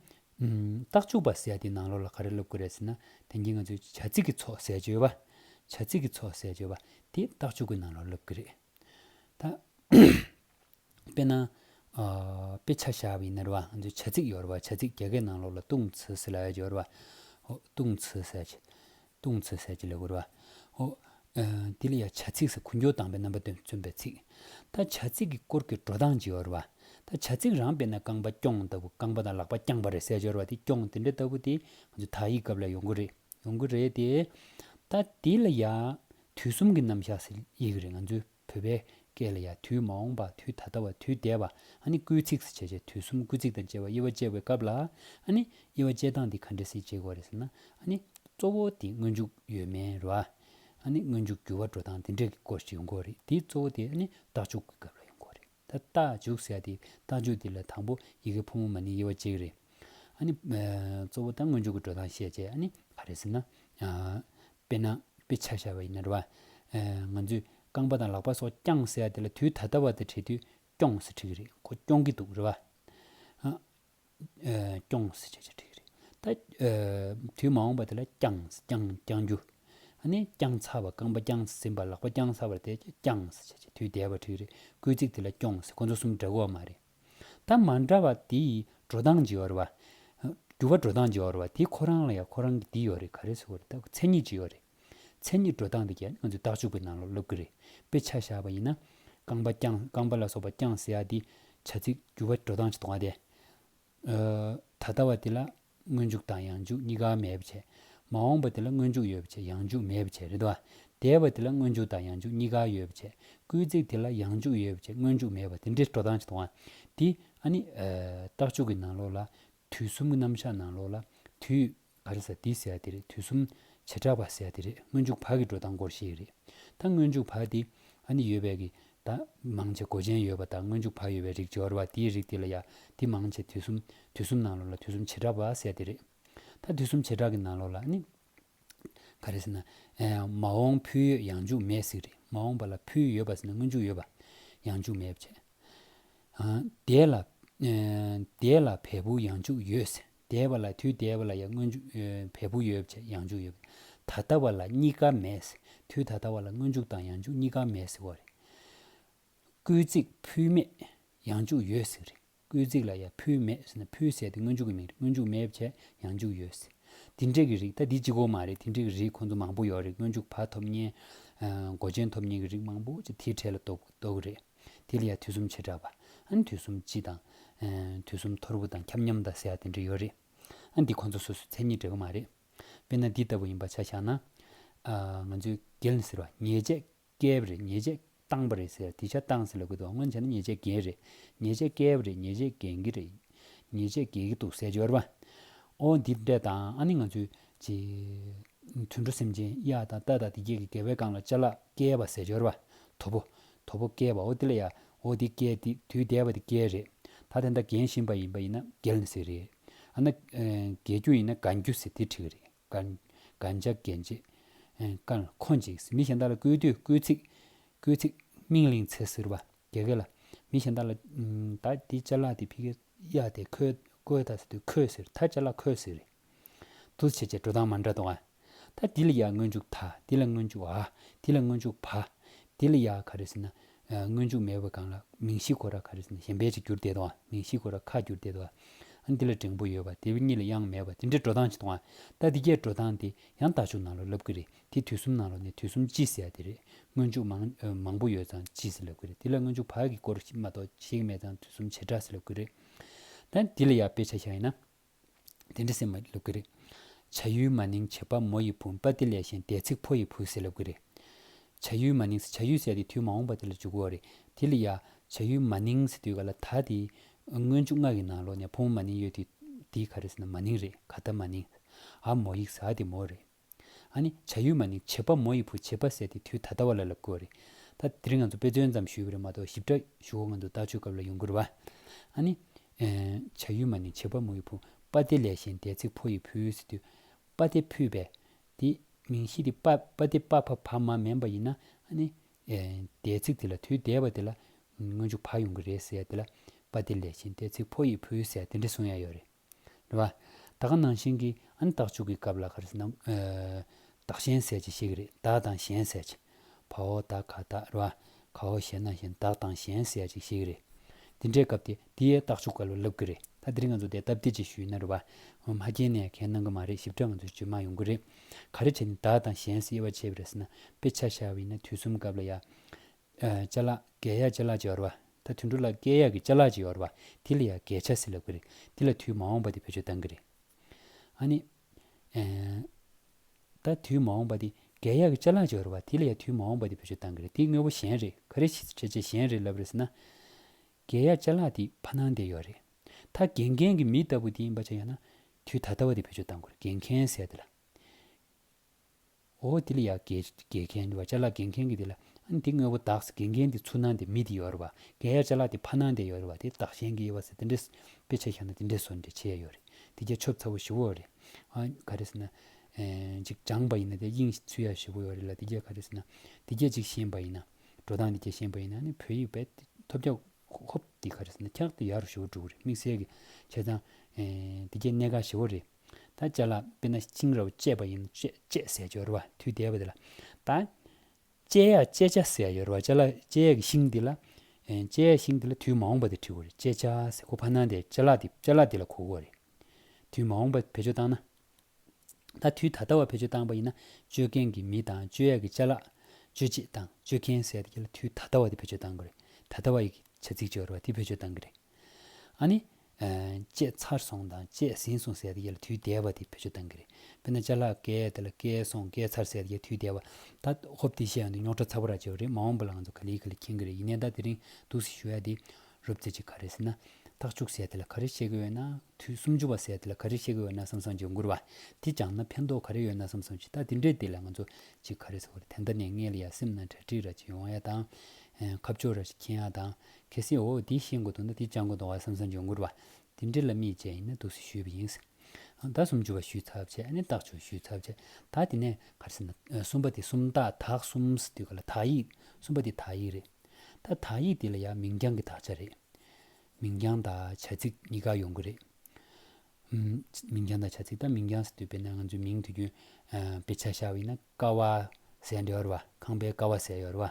རྟགས་བཅུ་བ་བསལ་ཏེ་ནང་ལོགས་ལ་ག་རེ་སློབ་དགོས་རེད་ཟེར་ན། དེང་གི་ང་ཚོའི་བྱ་ཚིག་གི་ཚོགས་གསལ་བརྗོད་པ། བྱ་ཚིག་གི་ཚོགས་གསལ་བརྗོད་པ་དེ་རྟགས་བཅུ་གི་ནང་ལོགས་སློབ་ཀྱི་རེད་ད། དཔེར་ན། དཔེ་ཆ་བྱ་བའི་སྣེར་བ་ང་ཚོས་བྱ་ཚིག་ཡོད་རབས་བྱ་ཚིག་རྒྱ་སྐད་ནང་ལོགས་ལ་ལྟུང་ཚུལ་སེལ་ལ་ཡོད་རབས། ལྟུང་ཚུལ་སེལ་གྱི། ལྟུང་ཚུལ་སེལ་གྱི་ལས་དགོས་རབས། དེ་ལ་ཡང་བྱ་ཚིག་སེལ་གུ་འགྱོད་དང་པའི་རྣམ་པ་དོན་མཚོན་པའི་ཚིག། ད་བྱ་ཚིག་གི་སྐོར་གྱི་འགྲོ་སྟངས་ཇི་ཡོད་རབས། ད་བྱ་ཚིག་རང་དཔེར་ན་རྐང་པ་རྐྱོང་ལྟ་བུ་རྐང་པ་དང་ལག་པ་རྐྱང་པ་རེད་སེལ་ཆོག་རབས་དེ་རྐྱོང་དེ་འདྲ་ལྟ་བུ་དེ་ང་ཚོས་དག་ཡིག་སྐབས་ལ་ཡོང་གི་རེད་ཡོང་གི་རེད་དེ། ད་དེ་ལ་ཡང་དུས་གསུམ་གྱི་རྣམ་བཞག་སེལ་ཡི་གི་རེད་ང་ཚོས། བོད་པའི་སྐད་ལ་ཡང་དུས་མ་འོངས་པ་དུས་ད་ལྟ་བ་དུས་འདས་པ་ཨ་ནི་སྐུལ་ཚིགས་སུ་བྱས་བྱས་དུས་གསུམ་སྐུལ་ཚིགས་དང་བཅས་པ་དབྱེ་བ་དཔྱད་པའི་སྐབས་ལ་ཨ་ནི་དབྱེ་བ་དཔྱད་སྟངས་འདི་ག་འདྲ་སེ་བྱེད་དགོས་རེད་ཟེར་ན་ཨ་ནི་གཙོ་བོ་དེ་སྔོན་འཇུག་ཡོད་མེད་རེད་བ། ཨ་ནི་སྔོན་འཇུག་འགྱུར་བ་འགྲོ་སྟངས་འདི་འདྲ་གི་སྐོར་ཞིག་ཡོང་དགོས་རེད་དེའི་གཙོ་བོ་དེ་ཨ་ནི་བདག་འཇུག་གི་སྐབས་ལ་ཡོང་དགོས་རེད། ད་རྟགས་འཇུག་ཟེར་ཏེ་རྟགས་འཇུག་འདི་ལ་དང་པོ་ཡི་གེ་ཕོ་མོ་མ་ནི་དབྱེ་བ་གཅིག་རེད། ཨ་ནི། གཙོ་བོ་ད་སྔོན་འཇུག་གི་འགྲོས་དང་ཤེས་བྱེད་ཨ་ནི། ག་རེད་ཟེར་ན། དཔེར་ན། དཔེ་ཆ་བཞག་པ་ཡིན་ན་རེད་བ། ང་ཚོས་རྐང་པ་དང་ལག་པ་སོགས་བརྐྱངས་ཟེར་དེ་ལ་དུས་ད་ལྟ་བ་དེ་བྲིས་དུས་སྐྱོངས་ཟེར་ཁྲིད་ཀྱི་རེད་ཁོ་སྐྱོང་གི་འདུག་རེད་བ། སྐྱོང། དུས་མ་འོངས་པ་དེ་ལ་བསྐྱངས། བསྐྱང་རྒྱུ། བསྐྱངས་ཚར་བ་རྐང་པ་བསྐྱངས་ཟིན་པ་ལག་པ་བསྐྱངས་ཚར་བ་དེ་བསྐྱངས། དུས་འདས་པ་དུས་རེད་བསྐུལ་ཚིག་དེ་ལ་སྐྱོངས། ཁོ་ཚོ་གསུམ་འདྲ་གོ་བ་མ་རེད། ད་མ་འདྲ་བ་དེ་ཡི་འགྲོ་སྟངས་ཇི་ཡོད་རེད། འགྱུར་བ་འགྲོ་སྟངས་ཇི་ཡོད་རེད། དེ་ཁོ་རང་ལ་ཡང་ཁོ་རང་གི་འདི་ཡོད་རེད་ག་རེ་ཟེར་བ་རེད། མཚན་ཉིད་ཇི་ཡོད་རེད། མཚན་ཉིད་འགྲོ་སྟངས་དེ་ཁྱེད་ང་ཚོས་རྟགས་འཇུག་པའི་ནང་ལ་སློབ་གི་རེད་དཔེ་ཆ་བཞག་པ་ཡིན་ན། རྐང་པ་བརྐྱངས་རྐང་པ་ལ་སོགས་པ་བརྐྱངས་ཟེར་ཡ་འདི་བྱ་ཚིག་འགྱུར་བ་འགྲོ་སྟངས་ཅིག་མཐོང་བ་དེ། ད་ལྟ་བ་དེ་ལ་སྔོན་འཇུག་དང་ཡང་འཇུག་གཉིས་ཀ་མེད་པ་བྱས། མ་འོངས་པ་དེ་ལ་སྔོན་འཇུག་ཡོད་པ་བྱས་ཡང་འཇུག་མེད་པ་བྱས་རེད་དོ། འདས་པ་དེ་ལ་སྔོན་འཇུག་དང་ཡང་འཇུག་གཉིས་ཀ་ཡོད་པ་བྱས་སྐུལ་ཚིག་དེ་ལ་ཡང་འཇུག་ཡོད་པ་བྱས་སྔོན་འཇུག་མེད་པ་དེ་འདྲའི་འགྲོ་སྟངས་ཅིག་མཐོང་བ་དེ། ཨ་ནི། རྟགས་འཇུག་གི་ནང་ལོགས་ལ། དུས་གསུམ་གྱི་རྣམ་གཞག་ནང་ལོགས་ལ་དུས། བར་གསལ་འདི་གསལ་དེ་རེད་དུས་གསུམ། བྱེ་བྲག་བར་གསལ་དེ་རེད་སྔོན་འཇུག་བར་གྱི་འགྲོ་སྟངས་སྐོར་ཞིག་རེད། ད་སྔོན་འཇུག་བར་དེ། ཨ་ནི་ཡོད་པས་ཀྱི། ད། མང་ཆེ་གོ་ཅན་ཡོད་པ་དང་སྔོན་འཇུག་བར་ཡོད་པའི་རིགས་སྦྱོར་བ་དེའི་རིགས་དེ་ལ་ཡང་དེ་མང་ཆེ་དུས་གསུམ། དུས་གསུམ་ནང་ལོགས་ལ་དུས་གསུམ་བྱེ་བྲག་བར་གསལ་དེ་རེད། ད་དུས་གསུམ་བྱེ་བྲག་གི་ནང་ལོགས་ལ་ཨ་ནི། ག་རེ་ཟེར་ན། མ་འོངས་ཕུལ་ཡོད་ཡང་འཇུག་མེད་ཟིག་རེད་མ་འོངས་པ་ལ་ཕུལ་ཡོད་པ་ཟེར་ན་སྔོན་འཇུག་ཡོད་པ། ཡང་འཇུག་མེད་བྱས། འདས་ལ། འདས་ལ་བས་བུ་ཡང་འཇུག་ཡོད་ཟེར་འདས་པ་ལ་དུས་འདས་པ་ལ་ཡང་སྔོན་འཇུག་བས་བུ་ཡོད་བྱས་ཡང་འཇུག་ཡོད། ད་ལྟ་བ་ལ་གཉིས་ཀ་མེད་ཟེར་དུས་ད་ལྟ་བ་ལ་སྔོན་འཇུག་དང་ཡང་འཇུག་གཉིས་ཀ་མེད་ཟེར་བ་རེད། སྐུལ་ཚིག་ཕུལ་མེད་ཡང་འཇུག་ཡོད་ཟིག་རེད། སྐུལ་རྩིག་ལ་ཡང་ཕུལ་མེད་ཟེར་ན་ཕུལ་ཟེར་དེ་སྔོན་འཇུག་གི་མིང་རེད་སྔོན་འཇུག་མེད་བྱས་ཡང་འཇུག་ཡོད་ཟེར། དེ་འདྲས་ཀྱི་རིགས་ད་འདི་གཅིག་གོ་མ་རེད་དེ་འདྲས་ཀྱི་རིགས་ཁོང་ཚོ་མང་པོ་ཡོད་རེད་སྔོན་འཇུག་བར་ཐོབ་ཉེན། མགོ་ཅན་ཐོབ་ཉེན་གྱི་རིགས་མང་པོ་ཅིག་དེའི་གྲས་ལ་གཏོགས་གི་རེད། དེ་ལ་ཡང་དུས་གསུམ་བྱེ་བྲག་པ། དུས་གསུམ་སྤྱི་དང། དུས་གསུམ་ཐོར་བུ་དང་ཁྱབ་མཉམ་དང་ཟེར་ཡག་དེ་འདྲས་ཡོད་རེད། འདི་ཁོང་ཚོ་སོ་སོའི་མཚན་ཉིད་འདྲ་གི་མ་རེད། དཔེར་ན་འདི་ལྟ་བུ་ཡིན་པ་ཆ་བཞག་ན། ང་ཚོས་རྒྱལ་ཟེར་བ་ཉེས་བྱས་བསྐལ་བ་རེ་ཉེས་བྱས་བཏང་བ་རེད་ཟེར་དེ་ཆ་བཏང་ཟེར་ལ་དགོས་འདུག་སྔོན་བྱས་ན་ཉེས་བྱས་འགེལ་རེད། ཉེས་བྱས་བསྐལ་བ་རེ་ཉེས་བྱས་འགེལ་གྱི་རེད། ཉེས་བྱས་འགེལ་གྱི་འདུག་ཟེར་འབྱོར་པ། ཨོ་འདི་འདྲས་དང་ཨ་ནི་ང་ཚོའི། དུད་འགྲོ་སེམས་ཅན་གཡག་དང་རྟ་དང་དེ་སྐད་ཀྱི་འགལ་བའི་སྒང་ལ་བཅའ་ལགས་བསྐལ་བ་ཟེར་འབྱོར་པ། དོ་པོ། དོ་པོ་བསྐལ་བའོ་དེ་ལ་ཡ། ཨོ་འདི་བསྐལ་འདི་དུས་འདས་པ་འདི་བསྐལ་རེད། ད་དེ་འདྲ་འགེལ་བཞིན་པ་ཡིན་པ་ཡིན་ན་འགེལ་ནི་ཟེར་རེད། ཨ་ན། འགེལ་རྒྱུ་ཡིན་ན་དགའ་རྒྱུ་ཟེར་དེ་འཁྲིག་གི་རེད། གན་རྒྱ་འགན་བཅད། ཀན་ལྷོ་འཇིགས་སུ་མི་གཞན་དག་ལ་བསྐུལ་དུས་བསྐུལ་ཚིག། བསྐུལ་ཚིག། སྨིན་གླིང་ཚེ་ཟུར་བ། རྒྱལ་ཁ་ལ། མི་གཞན་དག་ལ། ད་འདི་བཅད་ལགས་དེ་ཕི་ཁའི། གཡའ་དེ་ཁོའི། ཀོའི་ད་ཟེར་དུས་ཁོའི་ཟེར། ད་བཅད་ལགས་ཁོའི་ཟེར་རེད། དུ་བྱེད་བྱེད་འགྲོ་སྟངས་མ་འདྲ་ཏོ། ད་འདི་ལ་ཡ་སྔོན་འཇུག་ད་འདི་ལ་སྔོན་འཇུག་ཨ། འདི་ལ་སྔོན་འཇུག་བ། འདི་ལ་ཡ་ག་རེ་ཟེར་ན། སྔོན་འཇུག་མེད་པ་གང་ལ་མིང་གཞི་གོ་ར་ག་རེ་ཟིན་ན་གཞན་པའི་རིགས་བསྒྱུར་བསྡད་དོ། མིང་གཞི་གོ་ར་ཁ་བསྒྱུར་བསྡད་དོ། འདི་ལ་འགྲེང་བུ་ཡོད་པ་དེ་གཉིས་ལ་དབྱངས་མེད་པ་དེ་འདྲའི་འགྲོ་སྟངས་ཅིག་མཐོང། ད་འདི་གས་འགྲོ་སྟངས་དེ་ཡང་ལྟ་ཆུང་ནང་ལ་ལབ་གི་རེད་དེ་དུས་གསུམ་ནང་ལ་ནས་དུས་གསུམ་ཅི་ཟེར་ཡ་དེ་རེད། སྔོན་འཇུག་མང། མང་པོ་ཡོད་ཙང་ཅི་ཟེར་ལབ་གི་རེད་དེ་ལ་སྔོན་འཇུག་བག་གི་སྐོར་མ་གཏོགས་གཞན་གྱི་མེད་ཙང་དུས་གསུམ་བྱེ་བྲག་ཟེར་ལབ་གི་རེད། ད་འདི་ལ་ཡང་དཔེ་ཆ་བཞག་ཡིན་ན། དེ་འདྲ་ཟེར་མ་ལབ་ཀི་རེད། བྱ་ཡུལ་མ་ནིང་བྱེད་པ་མོ་ཡི་བུ་འབའ་ཏི་ལས་ཞེན་དད་ཚིག་ཕོ་ཡི་བུ་ཟེར་ལབ་ཀི་རེད། བྱ་ཡུལ་མ་ནིང་ཟེར་བྱ་ཡུལ་ཟེར་དེ་དུས་མ་འོངས་པ་དེ་ལ་འཇུག་གོ་རེད་དེ་ལ་ཡ། བྱ་ཡུལ་མ་ནིང་ཟེར་དུས་ག་ལ་ད་དེ། སྔོན་བཅུ་ལྔ་གི་ནང་ལོ་ནས་ཕོ་མོ་མ་ནིང་ཡོད་དེ། དེ་ག་རེ་ཟེར་ན་མ་ནིང་རེད་ག་ད་མ་ནིང། ཨ་མོ་ཡིག་ཟ་དེ་མོ་རེད། ཨ་ནི་བྱ་ཡུལ་མ་ནི་བྱེད་པ་མོ་ཡི་བུ་བྱེད་པ་བསད་དེ་དུས་ད་ལྟ་བ་ལ་ལ་བསྐུར་བ་རེད། ད་དེར་ང་ཚོ་དཔེ་མཚོན་ཙམ་ཞུས་པ་རེད་མ་གཏོགས་ཞིབ་ཕྲ་ཞུ་སྒོ་ང་ཚོ་ལྟག་ཆོད་སྐབས་ལ་ཡོང་གི་རེད། ཨ་ནི། བྱ་ཡུལ་མ་ནི་བྱེད་པ་མོ་ཡི་བུ་པ་སྟེ་ལས་གཞན་འདས་ཚིག་ཕོ་ཡི་བུ་ཟེར་དུས། པ་སྟེ་ཕུད་པས། དེ་མིང་གཞི་དེ་པ་པ་སྟེ་པ་ཕ་བ་མ་མིན་པ་ཡིན་ན་ཨ་ནི། འདས་ཚིག་དེ་ལ་དུས་འདས་པ་དེ་ལ་སྔོན་འཇུག་བག་ཡོང་གི་རེད་ཟེར་དེ་ལ། པ་སྟེ་ལས་གཞན་འདས་ཚིག་ཕོ་ཡི་བུ་ཟེར་དེ་འདྲ་གསུང་ཡ་ཡོད་རེད། རེད་བ། ད་ག་ནང་བཞིན་གྱི་ཨ་ནི་རྟགས་འཇུག་གི་སྐབས་ལ་ག་རེ་ཟེར་ནམ། བདག་གཞན་ཟས་ཀྱི་ཤེས་ཀྱི་རེད་བདག་དང་གཞན་ཟས་ཀྱི། བ་འོ་ད་ག་ད་རེད་བ། ག་འོ་ཞེ་ན་གཞན་བདག་དང་གཞན་ཟས་ཀྱི་ཤེས་ཀྱི་རེད། འདི་འདྲའི་སྐབས་དེ་དེ་ཡའི་རྟགས་འཇུག་ག་ལ་ལབ་ཀྱི་རེད་ད་འདིར་ང་ཚོ་དེ་སྟབས་བདེ་ཅིག་ཞུས་ན་རེད་བ། ངོ་མ་རྒྱན་ནས་གན་གནང་གི་མ་རེད་ཞིབ་ཕྲ་ང་ཚོས་བརྗོད་མ་ཡོང་གི་རེད། ག་རེ་བྱས་ནས་བདག་དང་གཞན་ཟས་དབྱེ་བ་ཕྱེ་བའི་རེད་ཟེར་ན་དཔེ་ཆ་ཤར་བ་ཡིན་ན་དུས་གསུམ་སྐབས་ལ་ཡ། ལྕེ་ལག། རྒས་ཡ་ལྕེ་ལག་ཅེས་བ་རེད་བ། ད་དུད་འགྲོ་ལ་སྐལ་ཡག་གི་བཅའ་ལག་ཅིག་ཡོད་རེད་པ་དེ་ལ་ཡང་གས་ཆ་ཟེར་ལབ་གི་རེད་དེ་ལ་དུས་མ་འོངས་པ་དེ་བོད་ཆོས་གཏང་གི་རེད་ཨ་ནི། ད་དུས་མ་འོངས་པ་དེ་གས་ཡག་གི་བཅའ་ལག་ཅིག་ཡོད་རེད་པ་དེ་ལ་ཡང་དུས་མ་འོངས་པ་དེ་བོད་ཆོས་གཏང་གི་རེད་དེ་དངོས་པོ་གཞན་རེད་ག་རེ་བྱས་རྗེས་གཞན་རེད་ལབ་རེད་ཟེར་ན། གས་ཡག་བཅའ་ལག་དེ་ཕ་ནང་བསྡད་ཡོད་རེད་ད་དགེ་མཁན་གྱི་མི་ལྟ་བུ་དེ་ཡིན་པ་བྱས་ཡོད་ན་དུས་ད་ལྟ་བ་དེ་བོད་ཆོས་གཏང་དགོས་རེད་དགེ་མཁན་ཟེར་དེ་ལ། འོ་དེ་ལ་ཡག་དགེ་མཁན་དེ་བ་ཅ་ལག་དགེ་མཁན་གྱི་དེ་ལ་ཨ་ནི་དེ་དངོས་པོ་གདགས་སེ་དགེ་མཁན་དེ་ཚུར་སྣང་དེ་མི་དེ་ཡོད་རེད་བ་དགེ་ཡག་ཅ་ལག་དེ་ཕ་སྣང་དེ་ཡོད་རེད་བ་དེ་བདག་གཞན་གྱི་དབྱེ་བ་ཟེར་དེ་འདྲས་དཔེ་ཆ་བཞག་ན་དེ་འདྲས་བཟོ་འདྲས་བྱས་ཡོད་རེད་དེ་རྒྱ་ཆོབ་ཚ་བོ་བཞི་བོ་རེད་ཨ་ག་རེ་ཟེར་ན། གཅིག་སྦྱངས་པ་ཡིན་ན་དེ་དབྱིངས་ཚུད་ཡ་བཞི་བོ་ཡོད་རེད་ལ་དེ་རྒྱ་ག་རེ་ཟེར་ན་དེ་རྒྱ་གཅིག་ཤེས་པ་ཡིན་ན་འགྲོ་སྟངས་དེ་རྒྱ་ཤེས་པ་ཡིན་ན་ཨ་ནི་བོད་ཡིག་བེད་ཐོབ་རྒྱ་ཧོབ་དེ་ག་རེ་ཟེར་ན་འཁྱག་དེ་ཡ་རུ་བཞི་བོ་འགྲོ་གི་རེད་དམིགས་བསལ་གྱི་བྱས་ཙང་དེ་རྒྱ་གནད་འགག་བཞི་བོ་རེད། ད་ཅག་ལ་དཔེར་ན་བཅིང་རབ་བཅས་པ་ཡིན་ནོ། བཅས་ཟས་སྦྱོར་བ་དུས་འདས་པ་འདི་ལ། ད་བཅས་ཡག་བཅས་བྱ་ཟས་སྦྱོར་བ་ཅག་ལ་བཅས་ཡག་གི་ཤིང་འདི་ལ། བཅས་ཡག་ཤིང་འདི་ལ་དུས་མ་འོངས་པ་འདི་བྲི་བར་བཅས་བྱ་ཟས་ཁོ་བར་སྣང་སྟེ་བཅས་ལག་འདི་བཅས་ལག་འདི་ལ་གོ་བོ་རེ། དུས་མ་འོངས་པ་བེད་སྤྱོད་བཏང་ན། ད་དུས་ད་ལྟ་བ་བེད་སྤྱོད་བཏང་པ་ཡིན་ན་བཅོས་མཁན་གྱི་མི་དང་བཅོས་ཡག་གི་བཅས་ལག། བཅོས་བྱེད་དང་བཅོས་མཁན་ཟས་དེ་ག་ལ་དུས་ད་ལྟ་བ་འདི་བེད་སྤྱོད་བཏང་གི་རེད། ད་ལྟ་བ་ཡི་གི་བྱ་ཚིག་སྦྱོར་བ་འདི་བེད་སྤྱོད་བཏང་གི་རེད། ཨ་ནི། བཅས་ཚར་སོང་དང་བཅས་ཟིན་སོང་ཟེར་ཡས་ལ་དུས་བདེ་བ་དེ་བེད་སྤྱོད་གཏང་གི་རེད་དཔེར་ན་བཅའ་ལག་བཀལ་དེ་ལ་བཀལ་སོང་བཀལ་ཚར་ཟེར་ཡས་དུས་བདེ་བ་ད་ཧོབ་དེ་བཤད་ཡོང་དུས་རྙོག་ཁྲ་ཚ་བོ་རག་བྱས་བ་རེད་མ་འོངས་པ་ལ་ང་ཚོ་ག་ལི་ག་ལི་མཁྱེན་གི་རེད་ཡིན་ནའི་ད་དེ་རིང་འདུག་ཟེར་ཞུ་ཡ་དེ་རབ་བརྩེ་གཅིག་ག་རེ་ཟེར་ན་ཐག་བཅུག་ཟེར་དེ་ལ་ག་རེ་བཤད་གི་ཡོད་ན་དུས་སུམ་ཅུ་བ་ཟེར་དེ་ལ་ག་རེ་བཤད་གི་ཡོད་ན་བསམ་བསམ་བརྗོད་མགུར་བ་དེ་སྦྱངས་ན་ཕན་ཐོག་ག་རེ་ཡོད་ན་བསམ་བསམ་བྱོས་ད་དེ་འདྲས་དེ་ལ་ང་ཚོ་གཅིག་ག་རེ་ཟེར་བ་རེད་དེ་འདི་ནས་མངལ་ཡ་སེམས་ན་གྲ་སྒྲིག་རག་བྱེད་ཡོང་ཡ་དང། ཁ་ཕྱོགས་རག་བྱེད་མཁྱེན་ཡ་དང། གལ་སྲིད་འོ་འདི་ཤེས་མགོ་འདུག་ན་འདི་བཅག་མགོ་འདུག་བ་བསམ་བསམ་བྱུང་ངུར་བ། འདི་འདྲི་ལ་མིས་བྱས་ཡིན་ན་འདུག་སེ་ཞུས་པ་ཡིན། ཟླ་གསུམ་བཅུ་བ་ཞུས་ཚར་བྱས་ཨ་ནི་བརྟག་བྱུང་ཞུས་ཚར་བྱས། ད་དེ་ནས་གར་སེ་ན་གསུམ་པ་དེ་སུམ་རྟགས་དག་གསུམ་ཟེར་དུས་ག་ལ་དག་ཡིག་གསུམ་པ་དེ་དག་ཡིག་རེད། ད་དག་ཡིག་འདི་ལ་ཡང་མིང་རྐྱང་གི་དག་ཆ་རེད། མིང་རྐྱང་དང་བྱ་ཚིག་གཉིས་ཀ་ཡོང་གི་རེད། མིང་རྐྱང་དང་བྱ་ཚིག་ད་མིང་རྐྱང་ཟེར་དུས་དཔེར་ན་ང་ཚོའི་མིང་དུས་རྒྱུན་དཔེ་ཆ་ཤར་བ་ཡིན་ན་ཀ་བ་ཟེར་འདྲ་ཡོད་རེད་བ། ཁང་པའི་ཀ་བ་ཟེར་ཡོད་རེད་བ།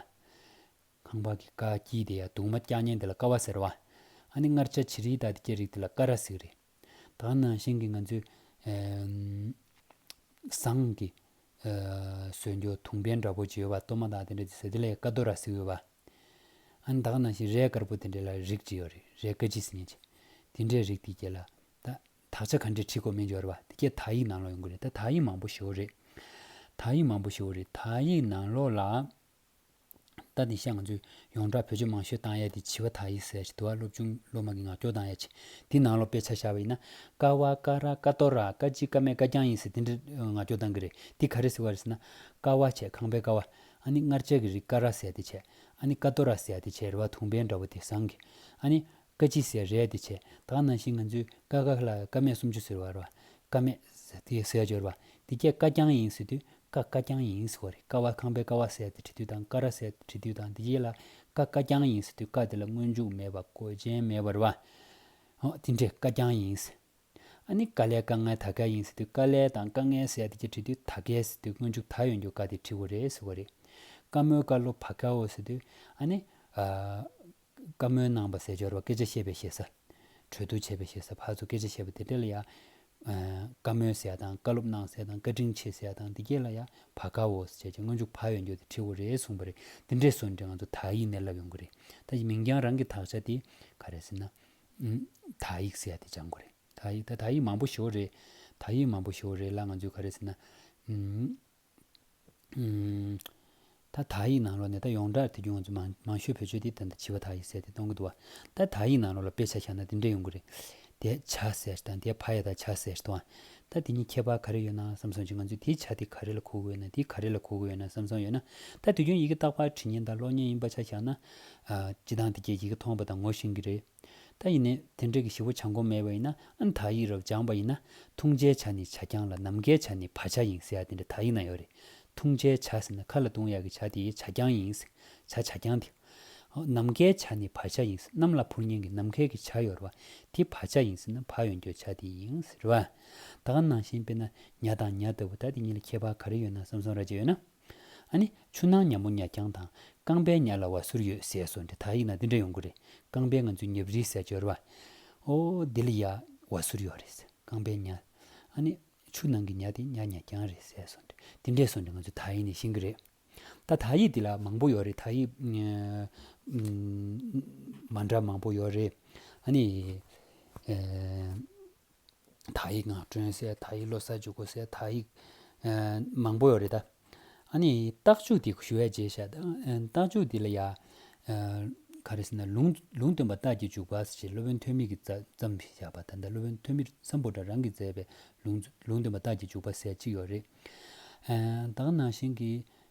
ཁང་པ་གི་ཀ་ཀྱི་དེ་ཡ་དུག་མ་སྐྱ་ཉན་དེ་ལ་ཀ་བ་ཟེར་བ། ཨ་ནི་མངར་ཆ་ཆི་རིའི་དག་དེ་སྐྱེ་རིགས་དེ་ལ་ཀ་ར་ཟིག་རེད། ད་ནང་བཞིན་གི་ང་ཚོའི། ཟངས། ཀྱི། ཟོས་འཇོ་དུང་བན་འདྲ་པོ་བྱེའུ་བ་ལྟོ་མ་དག་དེ་འདྲ་དེ་ཟེར་དེ་ལ་ཡང་ཀ་རྡོ་ར་ཟིག་ཡོད་བ། ཨ་ནི་དག་ནང་བཞིན་རས་དཀར་པོ་དེ་འདྲ་ལ་རིགས་གཅིག་ཡོད་རེད་རས་དཀར་ཆི་ཟིག་ཉན་ཆེ། དེ་འདྲའི་རིགས་དེ་སྐྱེ་ལ། ད། དག་ཆ་ག་འདྲའི་ཁྲིད་ཁོ་མི་འཇོ་རེད་བ། དེ་སྐད་དག་ཡིག་ནང་ལོག་ཡོང་གི་རེད་ད་དག་ཡིག་མང་པོ་ཞོ་རེད། དག་ཡིག་མང་པོ་ཞོ་རེད་དག་ཡིག་ནང་ལོག་ལ། རྟ་དེ་ཤ་ང་ཚོས་ཡོངས་གྲགས་བོད་ཆས་མང་ཤོས་དང་ཡ་དེ་བྱི་བ་དག་ཡིག་གསལ་ཞིག་དུ་བ་སློབ་ཆུང་སློབ་མ་གི་ངག་སྐྱོར་དང་ཡ་ཆེ་དེ་ནང་ལོ་དཔེ་ཆ་ཤར་བ་ཡིན་ན་ཀ་བ་ཀ་ར་ཀ་ཏོ་ར་ཀ་ཅི་ཀ་མེད་ཀ་རྐྱང་ཡིན་ཟེར་དེ་འདྲ་ངག་སྐྱོར་དང་གི་རེད་དེ་ག་རེ་ཟེར་བ་རེད་ཟེར་ན། ཀ་བ་བྱས་ཁང་པའི་ཀ་བ། ཨ་ནི་མངར་ཆ་གི་རིགས་ཀ་ར་ཟས་དེ་བྱས། ཨ་ནི་ཀ་ཏོ་ར་ཟས་དེ་བྱས་རེད་བ་དུང་བས་འདྲ་བོ་དེ་བཟང་གི། ཨ་ནི། བཀའ་སྤྱི་ཟེར་རེད་དེ་ཆད་བདག་ནང་བཞིན་ང་ཚོས་བཀའ་བཀག་ལ་བཀའ་མེད་གསུམ་བཅུ་ཟེར་བ་རེད་བཀའ་མེད་དེ་ཟེར་སྦྱོར་བ་དེ་སྐད་བཀའ་རྐྱང་ཡིན་ཟེར་དུས་བཀའ་བཀའ་རྐྱང་ཡིན་ཟེར་བ་རེད་ཀ་བ་ཁང་པའི་ཀ་བ་ཟེར་ཏེ་བྲི་དུས་དང་ཀ་ར་ཟེར་ཏེ་བྲི་དུས་དང་དེ་རྗེས་ལ་བཀའ་བཀའ་རྐྱང་ཡིན་ཟེར་དུས་བཀའ་དེ་ལ་སྔོན་འཇུག་མེད་པ་གོ་རྗེན་མེད་པ་རེད་བ། འོ་དེ་འདྲས་བཀའ་རྐྱང་ཡིན་ཟེར། ཨ་ནི་དཀའ་ལས་དཀའ་ངལ་ད་གས་ཡིན་ཟེར་དུས་དཀའ་ལས་དང་དཀའ་ངལ་ཟེར་ཡ་དེ་ཀྱི་དྲི་དུས་ད་གས་ཟེར་དུས་སྔོན་འཇུག་ད་ཡོན་འཇུག་ག་དེ་དྲི་བོ་རེད་ཟེར་བ་རེད། དཀའ་མོའི་དཀའ་ལོ་བ་ཀའོ་ཟེར་དུས་ཨ་ནི། དཀའ་མོའི་ནང་བ་ཟས་སྦྱོར་བ་སྐད་ཆ་བཤད་པའི་ཤེས་ས། གྲོས་བསྡུར་བྱེད་པའི་ཤེས་ས་ཕར་ཚུར་སྐད་ཆ་བཤད་པ་དེ་འདྲ་ལ་ཡ། དཀའ་མོའི་ཟས་དང་བཀའ་སློབ་གནང་ཟས་དང་བཀའ་དྲིན་ཆེ་ཟས་དང་དེ་གས་ལ་ཡ་བ་ཀའོ་ཟེར་བྱས་ཀྱི་སྔོན་འཇུག་བ་ཡོན་འཇུག་དེ་དྲི་བོ་རེད་གསུངས་པ་རེད་དེ་འདྲའི་བཟོ་འདྲི་ང་ཚོ་དག་ཡིད་ནས་ལབ་ཡོང་གི་རེད་ད་གཞི་མིང་རྐྱང་རང་གི་དག་ཆ་དེ་ག་རེད་ཟེར་ན། དག་ཡིག་ཟེར་ཡ་དེ་སྦྱང་དགོས་རེད་དག་ཡིག་དག་ཡིག་མང་པོ་ཞོར་རེད་དག་ཡིག་མང་པོ་ཞོར་རེད་ལ་ང་ཚོས་ག་རེ་ཟེར་ན་ད་དག་ཡིག་ནང་ལོ་ནས་ད་ཡོངས་གྲགས་དེ་རྒྱུ་ང་ཚོ་མང་མང་ཤོས་བོད་ཆོས་དེ་ད་ལྟ་བྱིས་པ་དག་ཡིག་ཟེར་ཏེ་གཏོང་གི་འདུག་བ་ད་དག་ཡིག་ནང་ལོ་ལ་དཔེ་ཆ་བཞག་ན་འདི་འདྲས་ཡོང་གི་རེད་དེ་བྱ་ཟེར་དང་དེ་ཕ་ཡ་དག་བྱ་ཟེར་དང་ད་དེ་གཉིས་ཁྱད་པར་ག་རེ་ཡོད་ན་བསམ་སོང་བྱོས་ང་ཚོས་དེའི་ཆ་དེ་ག་རེ་ལ་གོ་གི་ཡོད་ན་དེ་ག་རེ་ལ་གོ་གི་ཡོད་ན་བསམ་སོང་ཡོད་ན་ད་དུས་རྒྱུན་ཡི་གེ་བཏགས་པ་བྲིས་ཉན་དང་ཀློག་ཉན་ཡིན་པ་ཆ་བཞག་ན་སྤྱི་བཏང་དེ་ཁྱེད་ཀྱིས་མཐོང་པ་དང་ངོ་ཤེས་ཀྱི་རེད། ད་ཡིན་ནའི་དེ་འདྲ་གི་ཞི་བོ་བྱ་མགོ་མེད་པ་ཡིན་ན་དག་ཡིག་རག་སྦྱངས་པ་ཡིན་ན་འཐུང་བྱའི་བྱ་ནི་བྱ་རྐྱང་ལ་ནམ་མཁའི་བྱ་ནི་བ་བྱ་ཡིན་ཟེར་ཡ་དེ་འདྲ་དག་ཡིག་ན་ཡོད་རེད། འཐུང་བྱའི་བྱ་ཟེར་ན་ཁ་ལ་བཏུང་ཡག་གི་བྱ་དེ་བྱ་རྐྱང་ཡིན། བྱ་བྱ་རྐྱང་དེ། ནམ་མཁའི་བྱ་ནི་བ་བྱ་ཡིན། གནམ་ལ་འཕུར་ཉེན་གི་ནམ་མཁའི་གི་བྱ་ཡོད་རེད་བ། དེ་བ་བྱ་ཡིན་ཟེར་ན་བ་ཡོན་གྱོ་བྱ་དེ་ཡིན་རེད་བ། ད་ག་ནང་བཞིན་དཔེར་ན་ཉྭ་དང་ཉྭ་ལྟ་བུ་ད་དེ་གཉིས་ལ་ཁྱད་པར་ག་རེ་ཡོད་ན་བསམ་སོང་ར་བྱེད་ཡོད་ན། ཨ་ནི་ཆུ་ནང་ཉ་མོ་ཉ་རྐྱང་དང་རྐང་པའི་ཉ་ལ་བ་ཟུར་ཡོད་ཟེས་སོ་འདི་དག་ཡིག་ན་འདི་འདྲ་ཡོང་གི་རེད་རྐང་པའི་ང་ཚོའི་ཉབ་རིའི་ཟས་སྦྱོར་བ། ཨོ་འདི་ལ་ཡ། བ་ཟུར་ཡོད་རེད་ཟེར་རྐང་པའི་ཉ། ཨ་ནི། ཆུ་ནང་གི་ཉ་དེ་ཉ་ཉ་རྐྱང་རེད་ཟེས་སོ་འདི་འདི་འདྲས་སོ་འདི་ང་ཚོའི་དག་ཡིག་ནས་ཤེས་གི་རེད། ད་དག་ཡིག་འདི་ལ་མང་པོ་ཡོད་རེད་དག་ཡིག། མ་འདྲ་མང་པོ་ཡོད་རེད། ཨ་ནི། དག་ཡིག་ངག་སྒྲོན་གསལ་དག་ཡིག་ལོ་གསར་འཇུག་སྒོ་གསལ་དག་ཡིག། མང་པོ་ཡོད་རེད་ད། ཨཱ་ནི་རྟགས་འཇུག་འདི་ཞུ་བའི་རྗེས་ཤ་རྟགས་འཇུག་འདི་ལ་ཡ། ག་རེ་ཟེར་ན་ལུང་ལུང་སྟོན་པ་རྟགས་ཀྱི་འཇུག་པ་ཞེས་སློབ་དཔོན་ཐོན་མིས་ཀྱིས་བརྩམས་ཞེས་བྱ་བ་ད་ལྟ་སློབ་དཔོན་ཐོན་མིར་བརྩམས་པོ་འདྲ་རང་གིས་མཛད་པའི་ལུང་ལུང་སྟོན་པ་རྟགས་ཀྱི་འཇུག་པ་ཟེར་གཅིག་ཡོད་རེད། ད་ག་ནང་བཞིན་གྱི་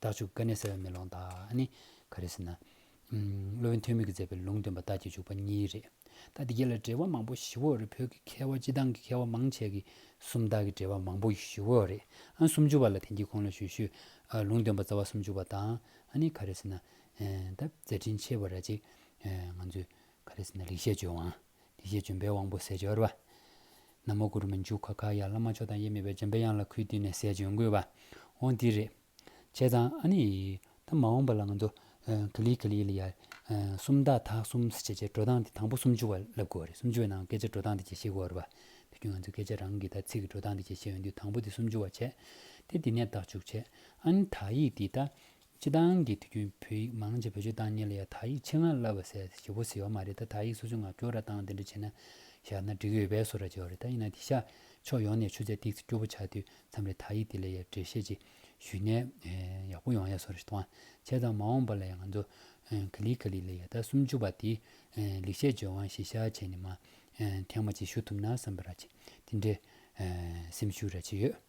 བདག་འཇུག་ཀ་ནས་གསལ་བའི་མེ་ལོང་དག་ནི། ག་རེ་ཟེར་ན། སློབ་དཔོན་ཐོན་མིས་མཛད་པའི་ལུང་སྟོན་པ་རྟགས་ཀྱི་འཇུག་པ་གཉིས་རེད། ད་འདི་ག་ལ་འགྲེལ་བ་མང་པོ་ཞིབ་འོག་རེད་བོད་ཀྱི་མཁས་བ་སྤྱི་དང་གི་མཁས་བ་མང་ཆེ་གི་སུམ་རྟགས་ཀྱི་འགྲེལ་བ་མང་པོ་ཞིབ་འོག་རེད། སུམ་ཅུ་བ་ལ་དེང་གི་ཁོང་ལ་ཞུ་ཞུ། ལུང་སྟོན་པ་རྩ་བ་སུམ་ཅུ་བ་དང། ག་རེ་ཟེར་ན། ད་མཛད་འཕྲིན་ཆེ་བ་ར་ཅིག། ང་ཚོས་ག་རེ་ཟེར་ན་ལེགས་བཤད་ཇོ་བང། དེ་རྗེས་འཇོམས་པའི་དབང་པོ་ཟས་སྦྱོར་བ། ན་མོ་གུ་རུ་མི་འཇུག་ག་གཱ་ཡ་བླ་མ་མཆོག་དང་དབྱེར་མེད་པའི་འཇམ་པའི་དབྱངས་ལ་གུས་བཏུད་ནས་ཟས་སྦྱོར་འགུལ་བ། འོ་འདི་རེད། བྱས་ཙང་ཨ་ནི། ད་མ་འོངས་པ་ལ་ང་ཚོ། ཁི་ལི་ཁི་ལི་ལ་ཡ། སུམ་རྟགས་དག་གསུམ་ཟེར་བྱས་རྗེས་འགྲོ་སྟངས་དེ་དང་པོ་སུམ་ཅུ་བ་བསླབ་དགོས་བ་རེད་སུམ་ཅུ་བའི་ནང་སྐད་ཆ་འགྲོ་སྟངས་དེ་གྱིས་ཤེས་དགོས་བ་རེད་བ། དེ་བརྒྱུད་ང་ཚོས་སྐད་ཆ་རང་གི་དག་ཚིག་གི་འགྲོ་སྟངས་དེ་གྱིས་ཤེས་ཡོང་དུས་དང་པོ་དེ་སུམ་ཅུ་བ་བྱས། དེ་འདི་ནས་བདག་འཇུག་བྱས། ཨ་ནི་དག་ཡིག་འདི་ད། སྤྱི་བཏང་གི་དུས་རྒྱུན་བོད་ཡིག་མང་ཆེ་བོད་སྤྱི་བཏང་གཉེར་ལ་ཡང་དག་ཡིག་ཆེད་མངགས་བསླབ་པ་ཟེར་ཞེ་པོ་ཟེར་བ་མ་རེད་ད་དག་ཡིག་སོ་སོའི་ངག་སྐྱོར་ར་སྟངས་དེ་འདྲ་བྱེད་ན་ཞག་ན་འགྲིག་ཡོད་པས་སོ་ར་བྱེད་བ་རེད་ད་ཡིན་ན་དེ་ཤ་ཕྱོགས་ཡོངས་ནས་ཆུ་ཚད་ཏིག་ཚེ་སྐྱོ་བོ་ཆགས་དུས་མཚམས་རེ་དག་ཡིག་དེ་ལས་ཡར་འགྲེལ་བཤད་ཅིག་ཞུས་ནས་ཡག་པོ་ཡོང་ཡ་སོ་ར་ཞིག་དང་བྱས་ཙང་མ་འོངས་པ་ལ་ཡང་ང་ཚོ་ག་ལི་ག་ལི་ལ་ཡ་ད་སུམ་ཅུ་བ་དེ་ལེགས་བཤད་ལྗོན་དབང་ཞེས་ཤ་བྱས་ནས་མ་ཐེངས་མ་ཅིག་ཞུ་ཐུབ་ན་བསམ་པ་ར་བྱེད་དེ་འདྲའི་སེམས་ཤུགས་ར་བྱེད་ཡོད།